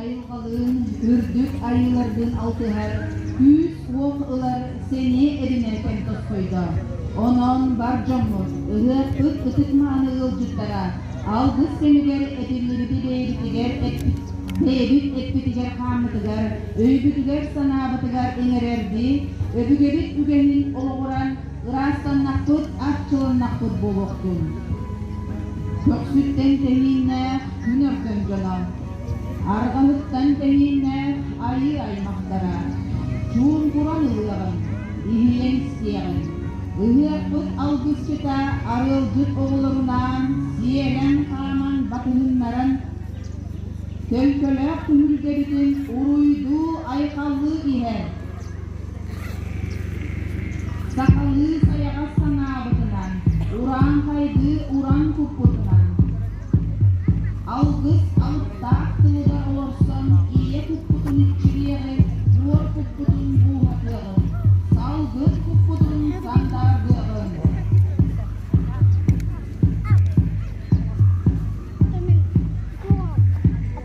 айылҕалыын, үрдүк айыыларгын алтыһар күүс-уох ылар сэниэ эбинээтэн тосхойдо. Онон бар дьоммут, ырыаспыт ытык-мааны ыалдьыттара алгыс кэмигэр этиллибитигэр бэйэбит эппитигэр-хааммытыгар, өйбүтүгэр-санаабытыгар иҥэрэрдии, өбүгэбит үгэһин олоҕуран ыраастаннахпыт, арчыланнахпыт буолуохтун! Көхсүттэн тэһииннээх күн өргөн дьоно! Арҕаныттан тэһииннээх айыы аймахтара чуумпуран ылыаҕыҥ, иһиэн-сиэҕиҥ. Ыһыахпыт алгысчыта арыалдьыт оҕолорунаан сиэлэн-хааман батыһыннаран, төҥкөлөөх түһүлгэбитин уруйдуу-айхаллыы иһэр. Сахалыы сайаҕас санаабытынан, ураан хайгыы уран туппутунан, алгыс алыптаах тылыга олорсон ийэ туппутун иччилиэҕи, буор туппутун бууһатыаҕын, салгын туппутун сандааргыаҕын.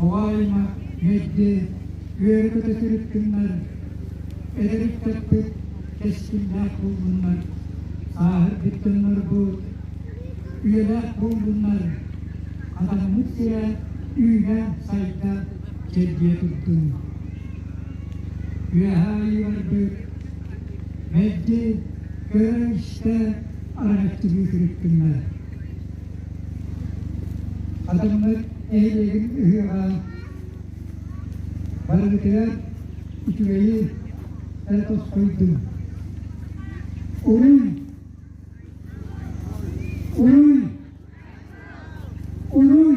Авария үһйдэ үөрэ-көтө сырыттыннар, эдэрик-чэппик, кэскиллээх буоллуннар, сааһырбыт дьоннорбу үйэлээх буоллуннар, атаммыт сирэ үүнэ-сайда, дьэргийэ турдун. Үөһээ барбыт мэлдьи көрө-истэ араччылыы сырыттыннар. Атыммыт нэһилиэгин ыһыаҕа барыгытыгар үчүгэйи эрэ тосхойдум. Уруй! Уруй! Уруй!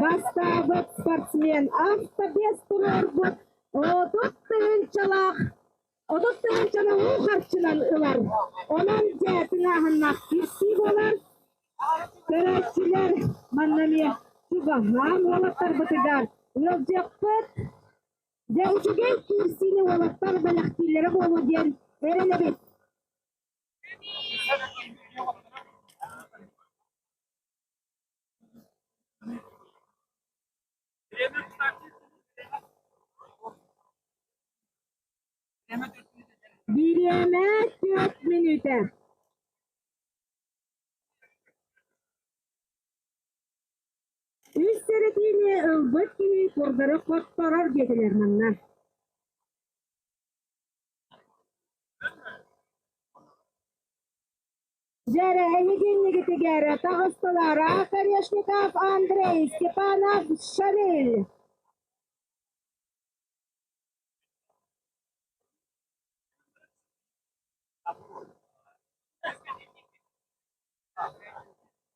Бастаабыт спортсмен авто биэс туруорбут отут тыһыынчалаах отут тыһыынчаны уу харчынан ылар. Онон дьээтин ааһыннах киртии буолар. Көрөөччүлэр манна эмиэ чугаһаан уолаттарбытыгар ыалдьыахпыт. Дьэ, үчүгэй киирсиини уолаттар бэлэхтииллэрэ буолуо диэн эрэнэбит. Бириэмэ түөрт мүнүүтэ Үс сэрэтиини ылбыт киһи курдары хотторор диэтилэр манна Дьээрэһэни кэннигитигэр таҕыстылар Орешников Андрей Степанов Шалиль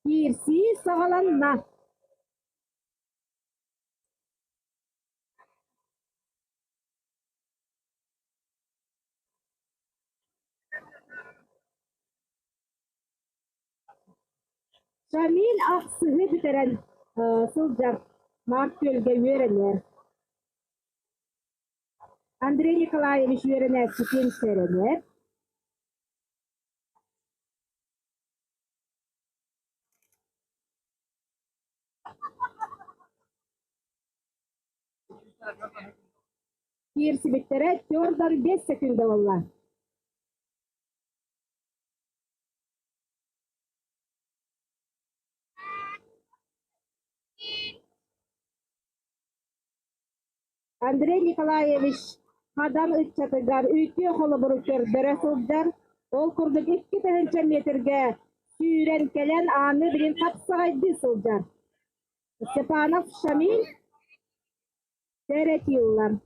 киирсии саҕаланна Сэмиин ахсыһы бүтэрэн сылдьар Марк Күөлгэ үөрэнэр. Андрей Николаевич үөрэнээччитин сэрэнэр. Киирсибиттэрэ Тёрдор биэс сөкүүндэ буолла Андрей Николаевич Хадан ыччатыгар үтүө холобуру көрдөрө сылдьар, ол курдук икки тыһыынча метргэ сүүрэн кэлэн ааны билин хапсаҕайдыы сылдьар Степанов Шамиль Теретиллан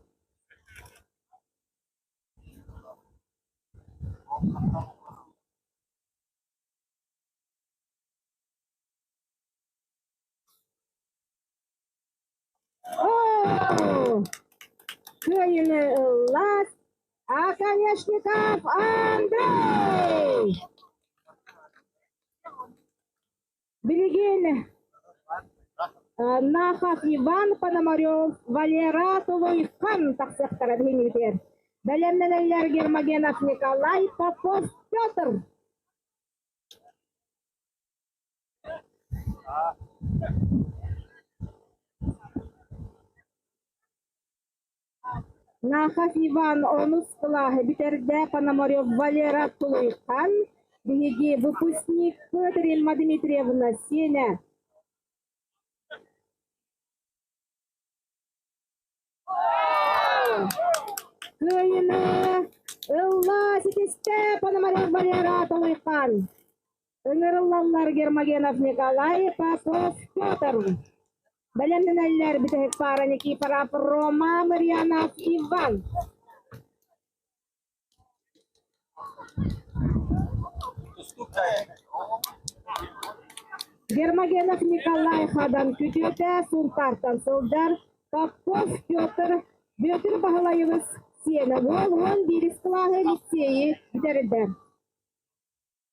Кыайыны ыллаат, оконешников Андрей! Билигин Нахах Иван Пономарев Валера Тулуйхан тахсыахтара биһиниитигэр. Бэлэмнэнэллэр Гермогенов Николай Попов Петр. Нахов Иван онус кылааһы бүтэрдэ, Пономарев Валера тулуйхан, биһиги выпускникпыт Римма Дмитриевна сиэнэ кыайына ылла ситистэ Пономарев Валера тулуйхан Ыҥырыллаллар Гермогенов Николай Попов Петр. Бэлэмнэнэллэр бүтэһик паара Никифора Рома Марианов Иван. Гермогенов Николай хадан күтүөтэ Сунтартан сылдьар Попов Петр Бүөтүр Баһылайыбыс сиэнэ буол уон биирис кылааһы лиссиэйи бүтэрдэ.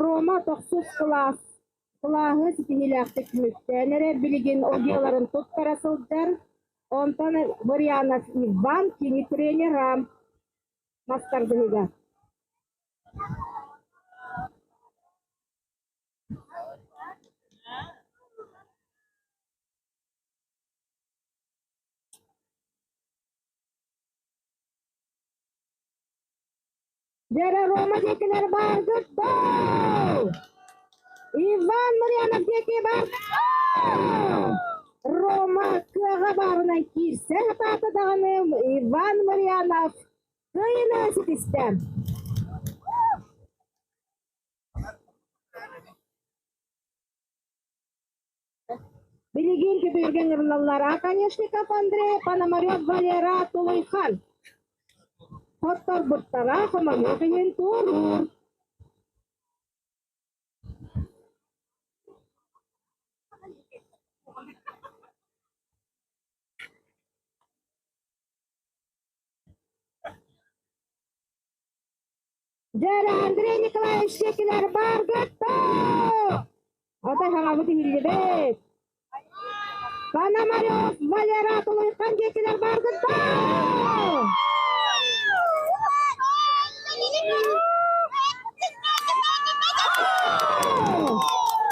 Рома тохсус кылаас кылааһы ситиһиилээхтик түмүктээн эрэ билигин ОГЭ-ларын туттара сылдьар, онтон Варьянов Иван кини тренера мастардыһыга. Дьэрэ Рома диэкилэр баргыт дуу? Иван Мырянов диэки баргыт дуу? Рома кыаҕа баарынай киирсэ сатаата даҕаны Иван Мырянов кыайына ситистэ. Билигин Кэпииргэ ыҥырыллаллар Оконешников Андрей, Пономарев Валера Тулуйхан. Хотторбуттара хоморуох иһин туоруур. Дьара Андрей Николаевич Чекилэр баргатта! Ата хаҕабыт иһиллибит. Пономарев Валера Тулуйхан Чекилэр баргатта!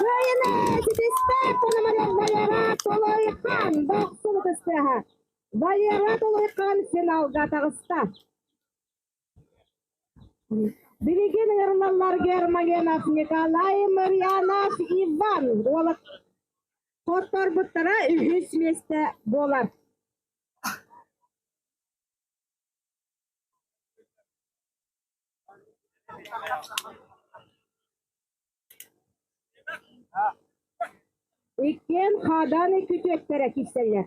Кыайына ситиспэт Пономарев Валера Тулуйхан дохсун кыстыаха. Валера Тулуйхан финалга таҕыста. Билигин ырыналар Германинов Николай Марианов Иван Ролов хотторбуттара үһүс миэстэ буолар Иккиэн хааданы күтүөттэрэ киирсэллэр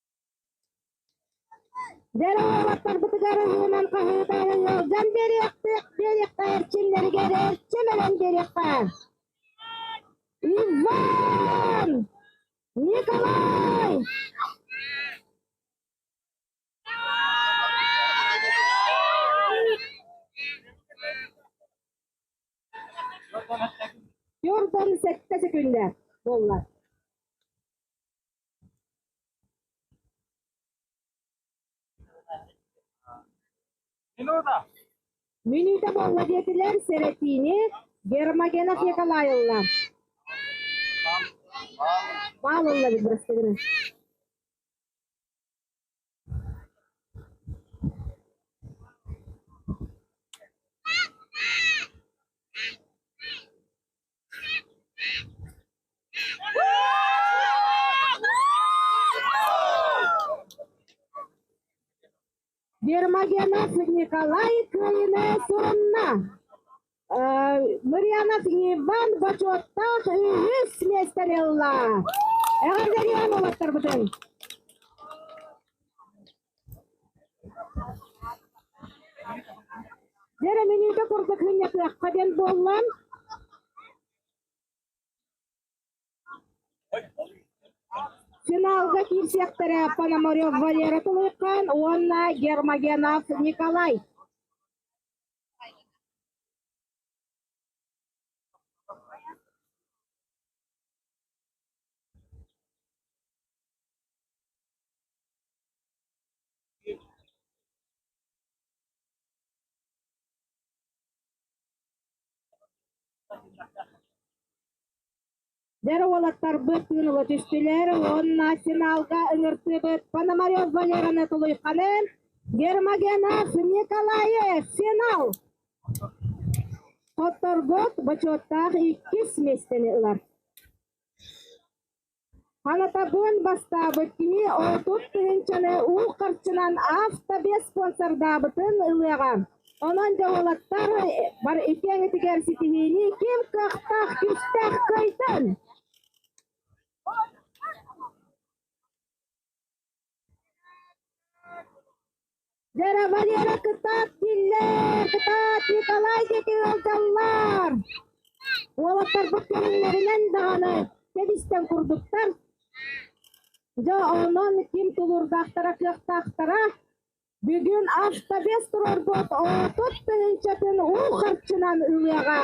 Дэлэ уолаттарбытыгар ылыынан хаһыытаары ыалдьан биэриэхтик, биэриэххэ эрчимнэригэр эрчим ылан биэриэххэ. Иван! Николай! Jordan сэттэ секундэ буолла. Мүнүүтэ буолла диэтилэр, сэрэтиини Гермогенов Николай ылла. Маал ылла биллэстигин. Вермагенов Николай Кыайынас уонна Марианов Иван Бочуоттаах үһүс миэстэни ылла. Эҕэрдэлиэн уолаттарбытын! Бэрэбиниитэ курдук мунньатыахха диэн буоллан финалга киирсиэхтэрэ Пономарев Валера Тулайхан уонна Гермогенов Николай. Дьэ, уолаттарбыт тыын ыла түстүлэр уонна финалга ыҥырсыыбыт Пономарев Валераны тулуйханын Гермогенов Николаев финал тотторбут бочуоттаах иккис миэстэни ылар. Ханатабыан бастаабыт кини отут тыһыынчаны уу харчынан автобеспонсордаабытын ылыаҕа. Онон дьоһуллаттар бары иккиэҥитигэр ситиһиини ким кыахтаах күүстээх кыайтан! Дьарабаньыны кытаат биллэр кытаат Николай диэки ыалдьаллар. Уолаттарбыт кэлиннэринэн даҕаны кэбистэн курдуктар. Дьэ онон ким тулурдаахтара кыахтаахтара. Бүгүн автобес турарбыт отут тыһыынчатын уу харчынан ылыаҕа.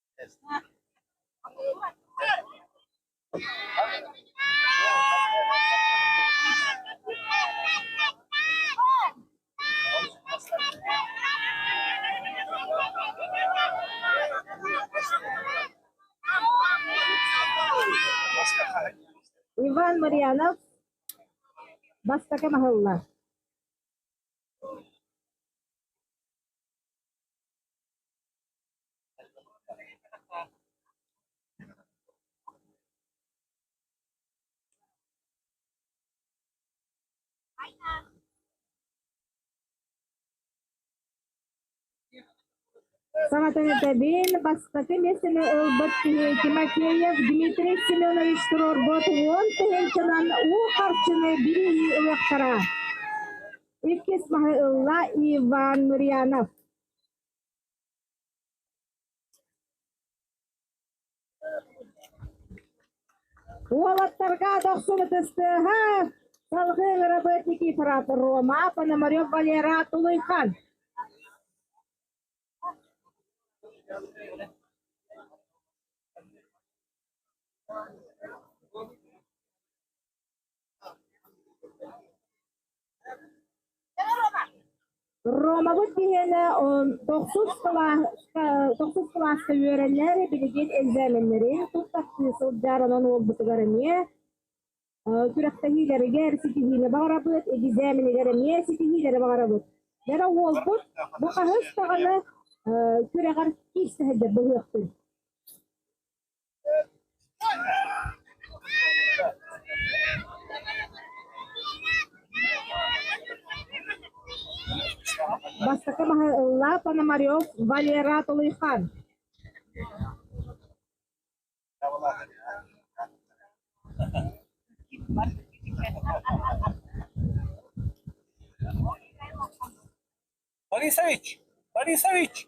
Иван Марьянов бастакы маһылла. Саҥатын этэбин, бастакы миэстэни ылбыт киһи Тимофеев Дмитрий Семенович туруорбут уон тыһыынчанан уу харчыны билии ылыахтара. Иккис маһы ылла Иван Нурьянов. Уолаттарга дохсубут ыстыаһа, салгыы работник ифрат Рома, Пономарев Валера Тулуйхан. Ромабыт киһиэнэ тохсус кылааска үөрэнэр, билигин экзаменнэрин тус тахсыы сылдьар, онон уолбутугар эмиэ күрэхтэһиилэригэр ситиһиини баҕарабыт, экзаменыгар эмиэ ситиһиилэри баҕарабыт. Дэнэ уолбут бу хаһыс даҕаны күрэҕэр киирсэ сылдьар быһыахпын. Бастакы маһы ылла Пономарев Валера Толойхан. Борисович! Борисович!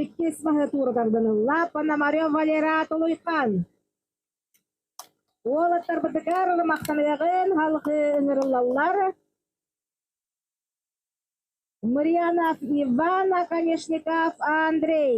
Иккис маһы туоратардан ылла Пономарев Валерат Улуйхан. Уолаттарбытыгар ымахтаныаҕын халҕыы ыҥырыллаллар. Мариана Иван Оконешников Андрей.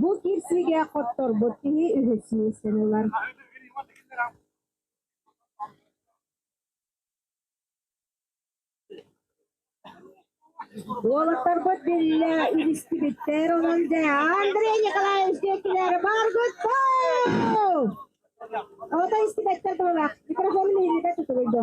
Бу киирсиигэ хотторбут киһи үһү сиэстэн ылар Уолаттарбыт биллэ илистибиттэр онон дэ Андрей Николаевич диэкилэр баргыттау! Оҕото истибэттэр дылылах, микрофон мииритэ тутулуйду.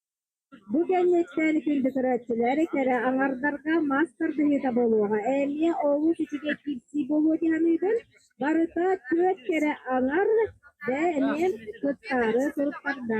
Бу кэнниттэн филдэкэрээччилэри кэрэ аҥардарга мас тардыһыыта буолуоҕа. Эмиэ олус үчүгэй киирсии буолуо дии саныыбын. Барыта түөрт кэрэ аҥар да эмиэ куттаары туруктарда.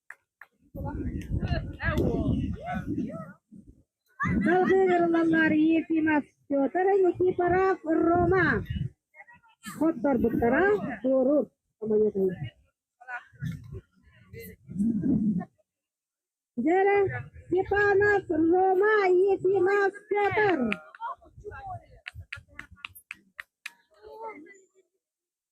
Епимов Петр Никифоров Рома хотторбуттара туоруур Дьэрэ Степанов Рома Ефимов Петр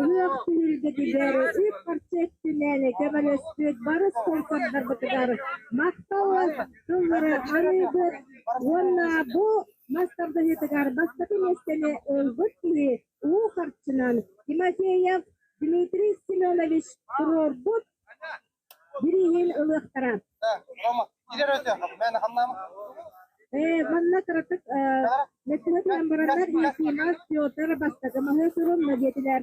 Ырыах түһүлгэтигэр үс харчы өттүнэн көмөлөспүт барыс куорсаннарбытыгар махтал тыллары арыйбыт уонна бу мас тардыһыытыгар бастакы миэстэни ылбыт киһи уу харчынан Тимофеев Дмитрий Семенович туруорбут ылыахтара. Э, манна кыратык мэктигэ туран бараннар Ефимов Петр бастакы маһы сурун надетилэр.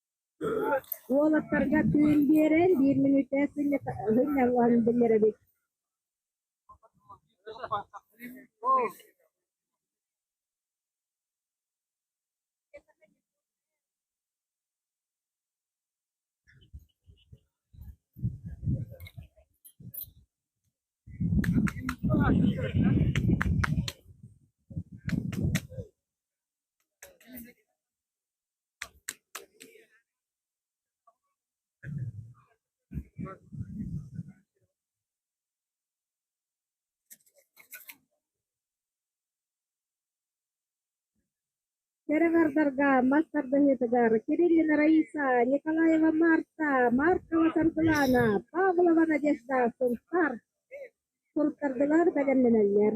Уолаттарга түүн биэрэн биир мүнүүтэ сынньалларын биллэрэбит Кэрэҕэрдарга мас тардыһыытыгар Кириллина Раиса, Николаева Марта, Маркова Саргылана, Павлова Надежда сунтаар суруттардылар бэлэмнэнэллэр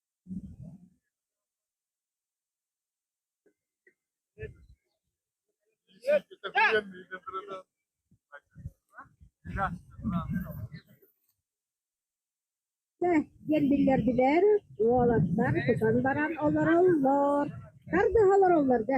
Чэ, диэн биллэрдилэр, уолаттар тутан баран олороллор. Хардаһа олороллор дэ.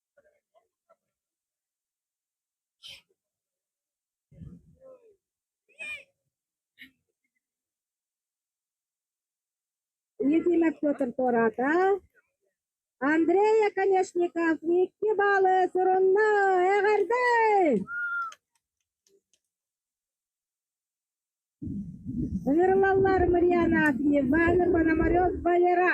Ефим Петр туораата. Андрей Оконешников икки балы сурунна эҕэрдэ! Ырлаллар Мариана Акимова, Нурманамарев Валера.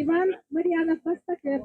Иван Мариянов бастакы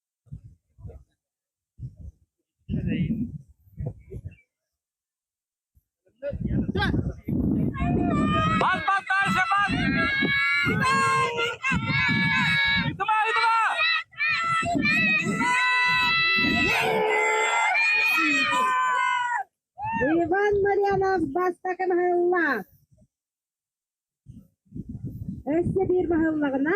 Иван Марьянов бастакын аһылла. Өссө биир баһыллаҕына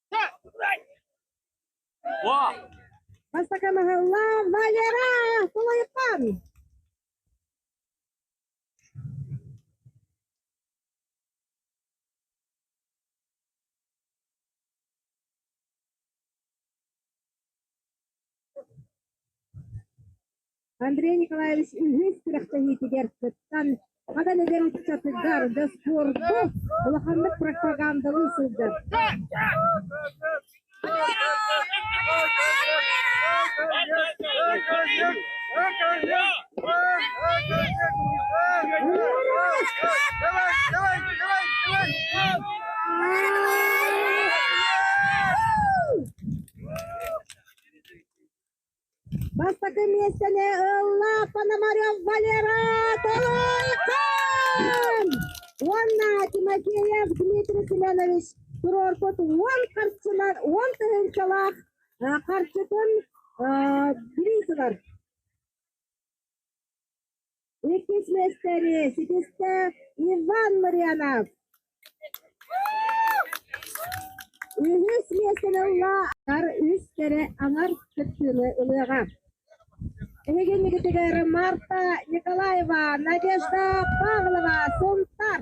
Бастакы маһылла Валера Кулайпан. Андрей Николаевич илиис күрэхтэһиитигэр кыттан, ханан эдэр ыччатыгар дьоссуорду, улаханнык пропагандалыы сылдьар. Бастакы миэстэни ылла Пономарев Валера Толойкон уонна Тимофеев Дмитрий Семенович туруорбут уон харчынан уон тыһыынчалаах харчытын билии турар Иккис миэстэри ситистэ Иван Марианов. Үһүс миэстэни ылла, атар үс кэрэ аҥар кыттыыны ылыаҕа. Иһигиннигитигэр Марта Николаева, Надежда Павлова, Сунтар.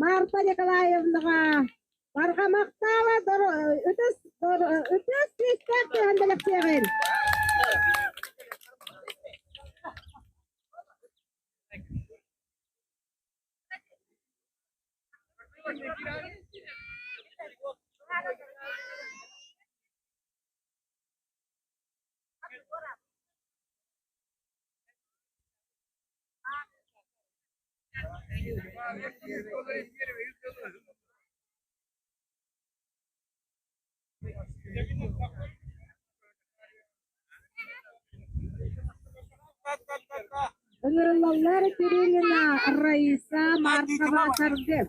Марта Николаевнаҕа Барҕамахтаала ытыс ытыс күүстээх түһэн бэлэхтиэҕин Ылылаллар Кирилина Раиса Маркова тардык.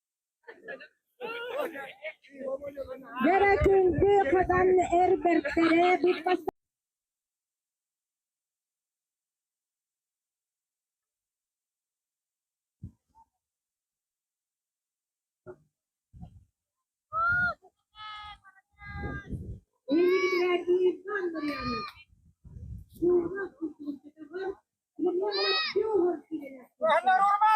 Кэрэ күндү хатан эр бэртэрэ Anaruba!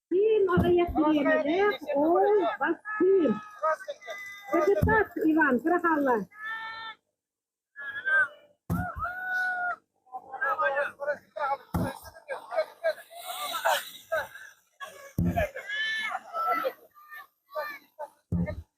Кыым аҕыйах бириэмэлээх оол бас кыым. Кыргыттар Иван, кырахалла.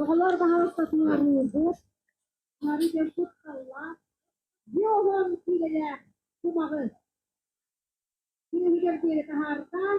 Оҕолор баһылык сатыыларыыгыт, улары дьөрбүт саллаат, дьуоҕун киилэлээх кумаҕы сүөһүгэр диэри таһаартаан,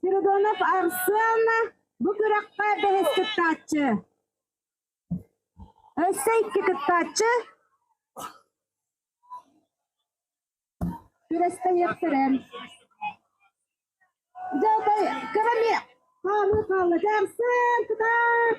Спиридонов Арсыалана бу күрэххэ бэһис кыттааччы. Өссө икки кыттааччы күрэстэһиэхтэрэ. Дьалтай кыра эмиэ хаалыы хаалла. Дьаарсан кытаат!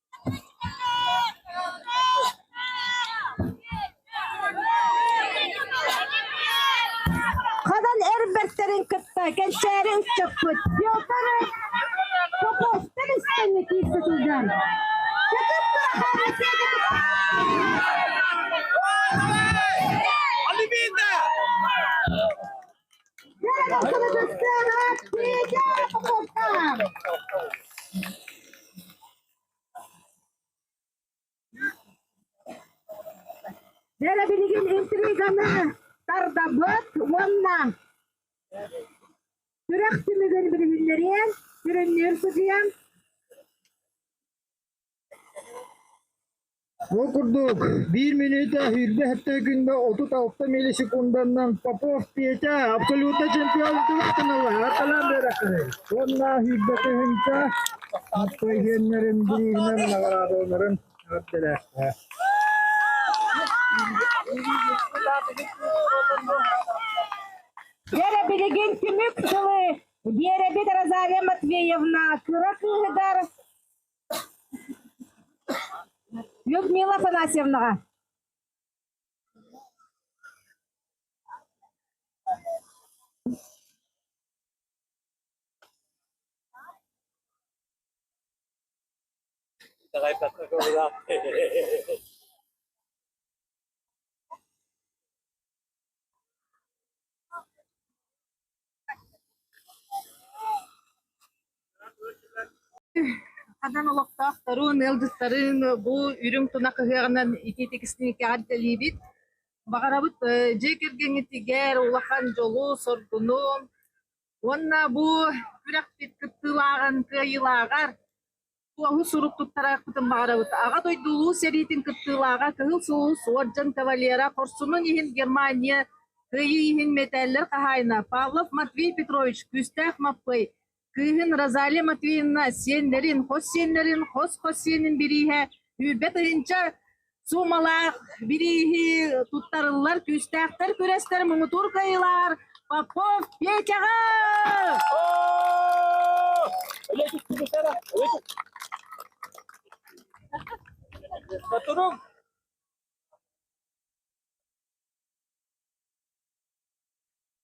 Ханан эр бэртэрин кытта кэнчээри ыччаппыт Петр Поповтар истэннэ киирбит сылдьан Чытып Турахааны сиэдитэ Бэрэ билигин интриганы тардабыт уонна сүрэх түмүгүн билиһиннэриэн, сүрүннүүр сыдьыйан Ол курдук, биир мүнүүтэ сүүрбэ сэттэ күҥҥэ отут алта миллисекунданан Попов Петя абсолютно чемпион тулатынылар. Талан биэрэххин. Уонна сүүрбэ тыһыынча спортсменнэрин бирииһинэн наҕараадаланарын эҕэрдэлээхтэр. Гера билигин түмүк сылы Биэрэбит Розалия Матвеевна кыра кыыһыгар Людмила Афанасьевнаҕа Хадан олохтоохторун, ыалдьыттарын бу үрүҥ тунах ыһыаҕынан итиитикисникэҕэр дэлиибит. Баҕарабыт дьиэ кэргэҥҥитигэр улахан дьолу, соргуну уонна бу күрэхпит кыттыылааҕын кыайыылааҕар Туоһу сурук туттарыахпытын баҕарабыт. Аҕа дойду улуу сэриитин кыттыылааҕа Кыһыл Сулус уордьан кавалера хорсунун иһин Германия кыайыы иһин мэтээллэр хаһаайына Павлов Матвей Петрович күүстээх Маппый кыыһын Розалия Матвеевна сиэннэрин, хос сиэннэрин, хос хос сиэнин бирииһэ, үүрбэт ыйынча суумалаах бирииһи туттарыллар күүстээхтэр күрэстэр муҥутуур кыайыылар Попов Петяҕа! Сотору